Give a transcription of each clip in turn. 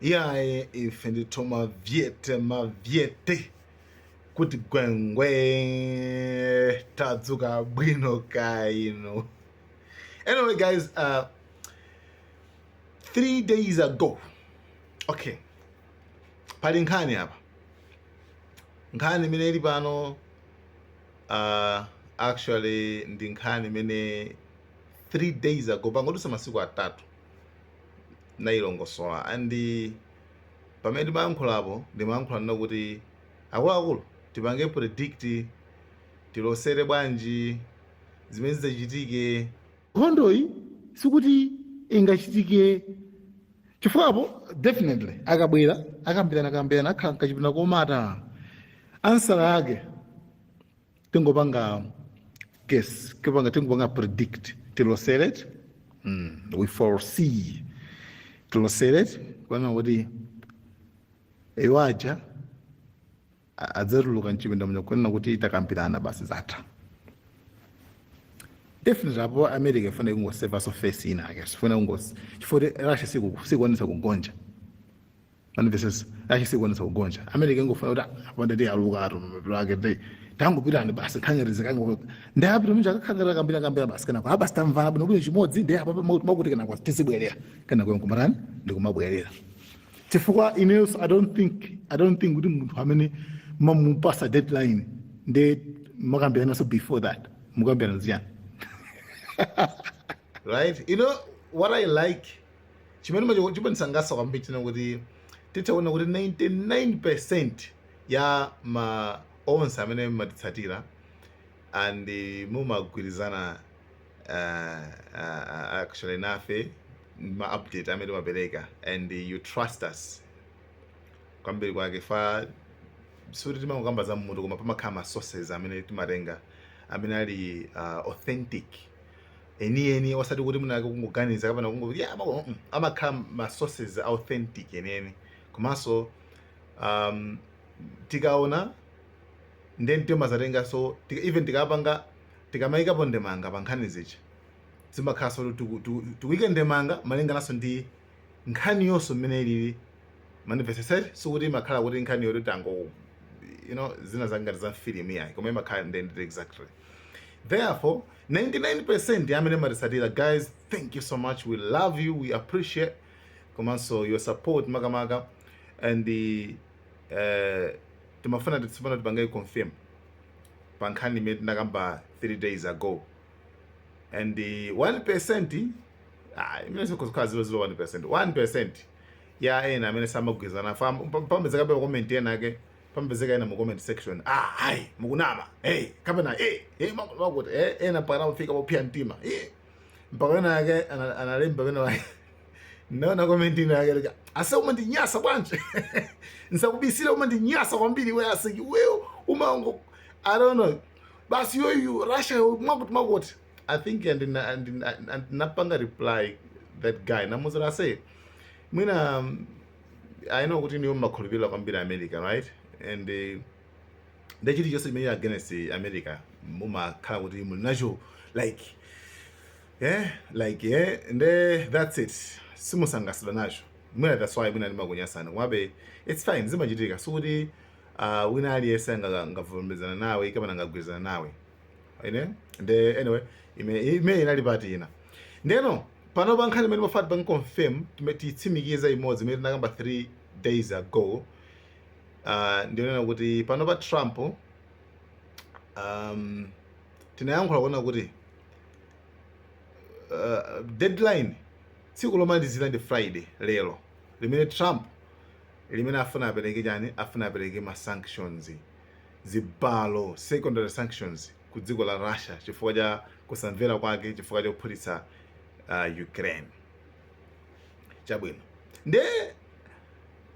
Iyaye ife ndithu mavyete mavyete kuti gwengwe tadzuka bwino kaya inu anyway guys uh, three days ago okay pali nkhani apa nkhani imene ili pano uh, actually ndi nkhani imene three days ago pangodutsa masiku atatu ndinailongosola and pamene ndimayankhulapo ndimayankhula kunena kuti akuluakulu tipange predict tilosere bwanji zimene zidzachitike, Nkhondoyi sikuti ingachitike chifukwa apo definitely akabwera akambirana kambirana akhala mkachipinda komata answer yake tingopanga guess tingopanga tingopanga predict tilosere eti. we foresee tilosere eti kunena kuti iwo aja a- adzatuluka mchipinda muja kunena kuti takambirana basi zatha definitely apo america ifuna kungoseva so face inayake sifuna kungos chifukwa kuti russia siku- sikuonetsa kugonja mwamvetsetsa Russia sikuonetsa kugonja america ingofuna kuti apanda ti aluka ato mapiro ake te tangopitani basi nkukhala ngati zikango ndi apita mnja akakhala ngati akambiranakambirana basi kunena kuti basi tamvana bwino bwino chimodzi ndi apa makuti kunena kuti tizibwerera kunena kuti nkumatani ndi kumabwerera chifukwa inenso i don't think i don't think kuti munthu amene mwamupatsa deadline ndiye mukambirananso before that mukambirana chiyani right you know what i like chimene chimandisangalatsa kwambiri kunena kuti titaona kuti 99 percent ya ma onse amene mmatitsatira and mumagwirizana uh, uh, actually nafe ma update amene timapereka and you trust us kwambiri kwake chifukwa sikuti timangokamba za mmutu koma pamakhala ma sources amene timatenga amene ali uh, authentic enieni osati kuti mwinalake kungoganiza kapena kungoti yeah, ama no mm, amakhala ma sources authentic enieni komanso um, tikaona then timazatenganso tika, even tikapanga tikamayikapo ndemanga pa nkhani zizi zimakhalanso kuti tiku- tiku- tikuike ndemanga malingananso ndi nkhaniyonso mmene ilili mwamvetsetsa eti sikuti imakhala kuti nkhani yoti tango you know zina zangati za mfilimu yayi koma imakhala ndendende exactly therefore 99% ya amene mmatitsatira guys thank you so much we love you we appreciate komanso your support makamaka and eh, timafuna kuti tsopano tipange confirm pa nkhani imene tinakamba 3 days ago and eh, 1% ah, imene sikuzikhala 001% 1% ya ena amene samagwirizana nafe amapezekabe comment ena ake pamapezeka ena mu comment section ah hai mukunama hey kapena eh hey, eh, makuti eh ena mpaka anafika popia mtima eh mpaka ena yake analemba pena wake naona comment ina yake like ase umandinyasa bwanji nsakubisire umandinyasa kwambiri wewe ase wewe umango i don't know basi you russia makuti makuti i think and na and na, and napanga reply that guy namuuza I said mwina um, I know kuti inuyo mmakhulupirira kwambiri America right and eh, nde chilichonse chimene against America mumakhala kuti muli nacho like eh like eh nde that's it simusangalatsidwa nacho mwina that's why mwina ndimakunyasani komabe it's fine zimachitika sikuti uh, wina aliyense anga- angavomerezane nawe kapena angagwirizane nawe iwe nde anyway ime ime inali part ina ndeno Panopa nkhani imene timafuna tipange confirm, timene tiyitsimikize imodzi imene tinakamba 3 days ago uh, ndiyonena kuti panopa Trump um, tinayankhula kunena kuti uh, deadline tsiku lomalizira ndi Friday lero limene Trump limene afuna apereke chani afuna apereke ma sanctions zibalo, secondary sanctions, ku dziko la Russia chifukwa cha kusamvera kwake chifukwa chophulitsa uh, Ukraine. Chabwino. Nde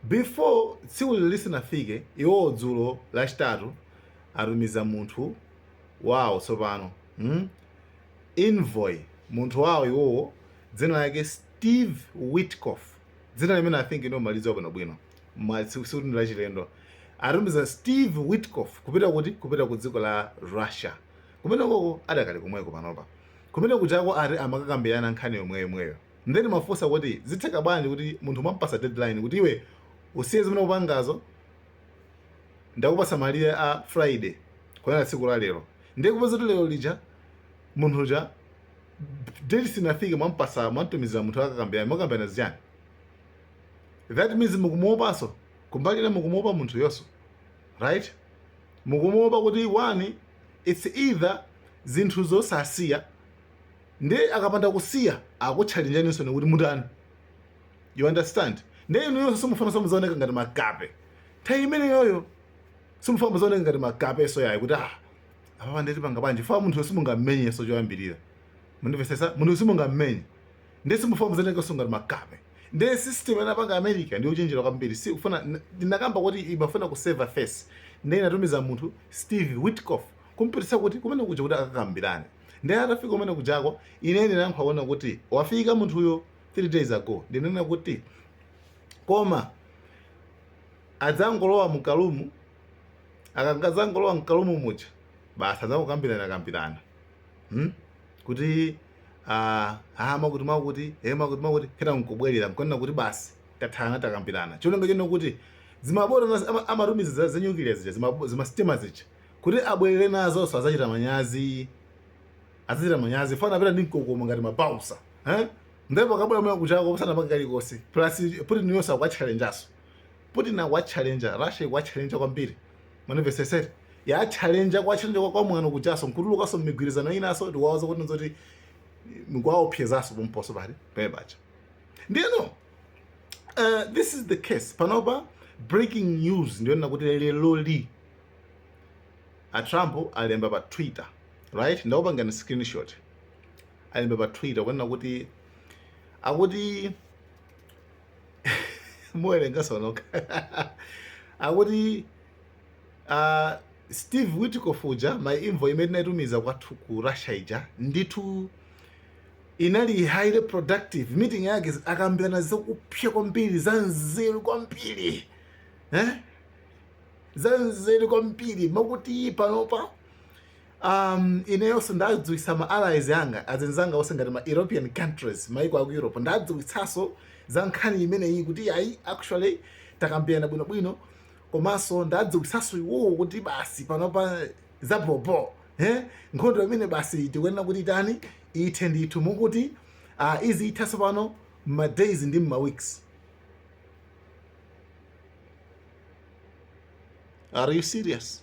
before tsikuli lisanafike iwowo dzulo lachitatu atumiza munthu wawo tsopano hmm? envoy munthu wawo iwowo dzina lake Steve Witkoff dzina limene I think inu mmalidziwa bwinobwino ma- si- sikuti ndi lachilendo atumiza steve witkoff kupita kuti kupita ku dziko la russia kumeneko adakali komweko panopa kumene kujako ati amakakambirana nkhani yomweyomweyo nde ndimafunsa kuti zitheka bwanji kuti munthu mwampasa deadline kuti iwe usiye zimene upangazo ndikupasa malire a friday kunena tsiku la lero ndiye kupezeka kuti lero lija munthu uja date isanafike mwamtumizira munthu akakambirane mukakambirana zichani that means mukumuopanso kumbali ina mukumuopa munthuyonso right mukumuopa kuti one it's either zinthu zosasiya ndi akapanda kusiya akutchalinjaninso nekuti mutani you understand ndiye inuyonso simufunanso muzaoneka ngati makape nthawi imeneyoyo simufuna muzaoneka ngati makapenso ayi kuti ah apa ndiye tipanga bwanji fa munthuyo simungammenyenso choyambirira mundimvesese munthuyo simungammenye Ndiye simufuna muzaonekanso ngati makape. Ndiye system anapanga America ndi yochenjera kwambiri sikufuna ndinakamba kuti imafuna ku save face ndiye inatumiza munthu Steve Witkoff kumpititsa kuti kumene kuja kuti akakambirane ndiye atafika kumene kujako ine ndinayamba kuona kuti wafika munthuyo 3 days ago ndinanena kuti koma adzangolowa mkalumu akadzangolowa mkalumu muja basi adzangokambirana kambirana hmm? kuti ah, ah, mwakuti mwakuti eh, mwakuti mwakuti kena nkubwerera nkunena kuti basi tathana takambirana cholinga chine kuti zimabota nas- ama- amatumiza za- za nyukiliya zija zimabo- zimasitima zija kuti abwerere nazo so azachita manyazi azachita manyazi fana apita ndi mkokomo ngati mabausa eh? ndipo akabwera mwa kuchako pasanapange kalikonse plus putin yonso akuwatchalenjanso putin akuwatchalenja russia ikuwatchalenja kwambiri Mwamvesesa? Yatchalenja kwatchalenja kwa kwamwano kujanso nkutulukanso mmigwirizano inanso ndikuwauza kuti nzoti nkuwaopsezanso pomposo pali pomwe paja ndiyeno uh, this is the case panopa breaking news ndiyonena kuti leloli a Trump alemba pa Twitter right ndakupangani screenshot alemba pa Twitter kunena kuti akuti muwerenganso nokha akuti uh, steve witkof uja my envoy imene tinayitumiza kwathuku ku russia ija ndithu inali highly productive meeting yake akambirana zakupsya kwambiri za nzeru kwambiri eh? za nzeru kwambiri moti panopa Um, ineyonso ndadziwitsa ma allies anga azinzanga onse ngati ma European countries maiko aku Europe ndawadziwitsanso za nkhani imeneyi kuti ayi actually takambirana bwinobwino komanso ndadziwitsanso iwowo kuti basi panopa zabhobho eh? nkhondo imene basi tikuyenera kuti itani ithe ndithu akuti uh, izi zithansopano mma days ndi mma weeks are you serious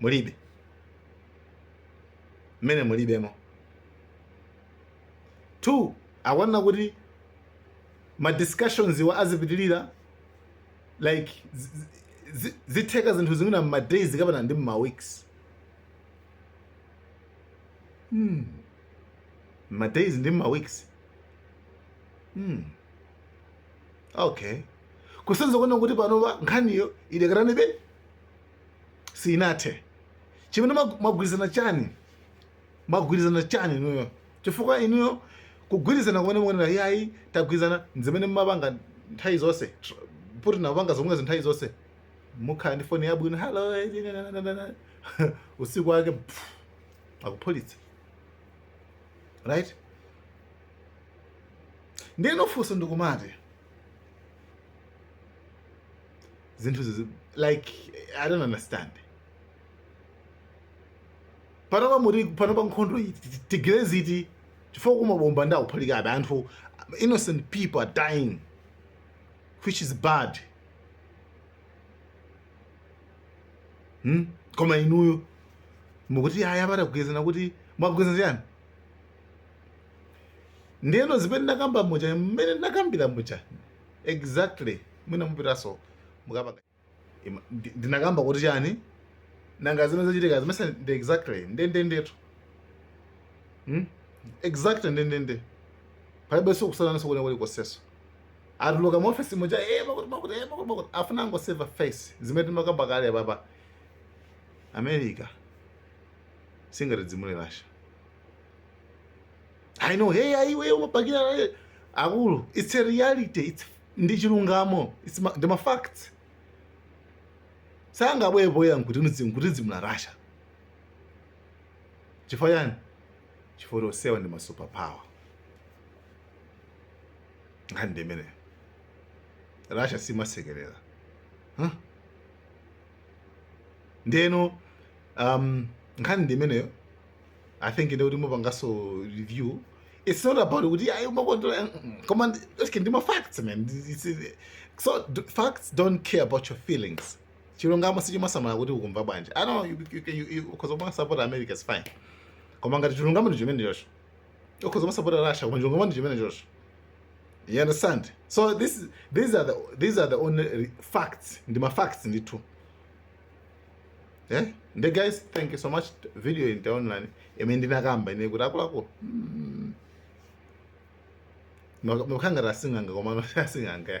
mulibe mmene mulibemo two akunena kuti ma discussions wa azipitilira like zitheka zinthu zimene m'ma days kapena ndi mma weeks hmm. mma days ndi mma weeks hmm. okay kusonyeza kunena kuti panopa nkhaniyo idakalipobe sinathe chimene mwag- mwagwirizana chani mwagwirizana chani inuyo chifukwa inuyo kugwirizana kumene mukuonera yayi tagwirizana nzimene mmapanga nthawi zonse tr- Putin apanga zomwezo nthawi zonse mukhala ndi foni yabwino hello eh, na- na- na- na- na." usiku wake pff, akuphulitsa right ndiyeno funso ndikumati zinthu izi like i don't understand panopa muri panopa nkhondo iyi tigire ziti chifukwa mabomba akuphulikabe anthu innocent people are dying which is bad hmm? koma inuyo mukuti ayi tagwirizana kuti mwagwirizana chiyani ndiyeno zimene ndakamba muja mmene ndakambira muja Exactly mwina mupitanso mukapanga Ima- ndi- ndinakamba kuti chani nanga zimene zachitika zimenezi ndi exactly ndendendetu hmm? exactly ndendende palibenso kusiyananso kwina kulikonsenso atuluka muofesi muja eh, makuti makuti eh, makuti makuti afuna kungoseva face zimene timakamba kale apapa america singaidzimule Russia i know hey aiwe umabakira Russia. akulu it's a reality it's ndi chilungamo it's ma, ndi ma facts sangabwere poyera nkuti nzi- nkuidzimula Russia chifukwa chani chifukwa choti onsewa ndi ma superpower nkhani ndi imeneyo Russia simasekerera huh? ndeno um, nkhani ndi imeneyo i think ndiye kuti mupanganso review it's not about kuti ayi umakondera mm, mm. koma ndi- okay ndi ma facts man Ndi- it's- it's- so d- facts don't care about your feelings chilungamo sichimasamala kuti ukumva bwanji i know you, you, you, you, ukhoza kumasapota america is fine koma ngati chilungamo ndi chimenecho ukhoza kumasapota russia koma chilungamo ndi chimenecho you understand so this these are the these are the only facts ndi ma facts ndithu eh nde guys thank you so much video ili online imene ndinakamba ine kuti akuluakulu hmm. makhala ngati sing'anga koma sasing'anga